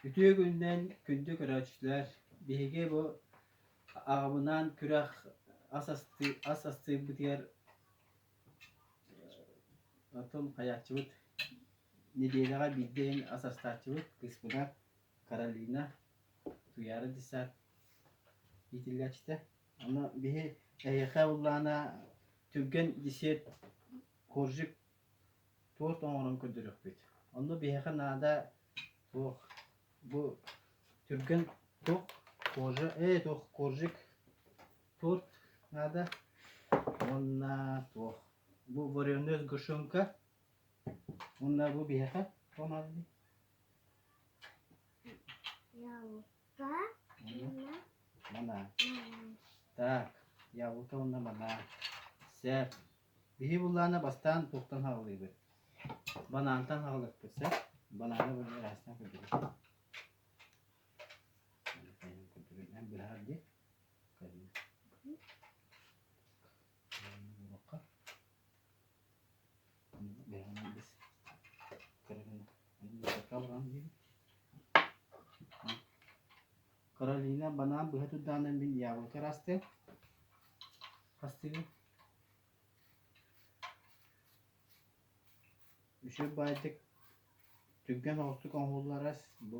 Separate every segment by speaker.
Speaker 1: Үтүө күнүнэн күндү көрөөччүлэр! Биһиги бу аҕабынаан күрэх ас астыы ас астыырбытыгар потом хайааччыбыт нэдиэлэҕэ биирдэ эн ас астааччыбыт кыыспына Каролина Туяра Десят иитиллээччитэ Ама биһи эһиэхэ уллаана түргэн десерт коржик туорт оҥорон көрдөрүөхпүт. Онно биһиэхэ наада туох бу түргэн туох коржа ээ туох коржик туорт наада уонна туох бу вареноз гушунка уонна бу биһиэхэ помадный. Манаа. Так, Яблоко уонна Манаа. Сеп. Биһи буллаана бастаан туохтан хааллыыбыт? Банаантан хаалыппыт, сеп. Банааны бу эрэстэн көрдүбүт. Эн быһаар ди. Буолбакка, бэһинээл дэс Каролина Каролина баран диэбит Каролина банаан быһа турдаанан мин яблоко расты хастыгын үчүгэй баайдык түргэн оҕустук оҥоһулларас бу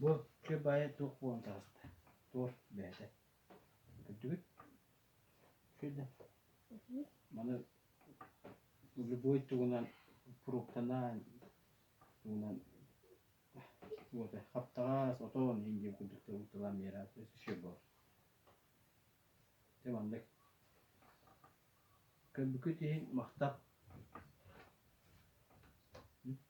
Speaker 1: Бу чэ баай туох буолан таҕыста? Туох бэйэтэ көрдүгүт? Күнэ маны любой тугунан фруктанан тугунан вот хаптаҕас отон иһин диэн курдук тылам миэрэ еще баар дьэ маннык көрбүккүт иһин махтал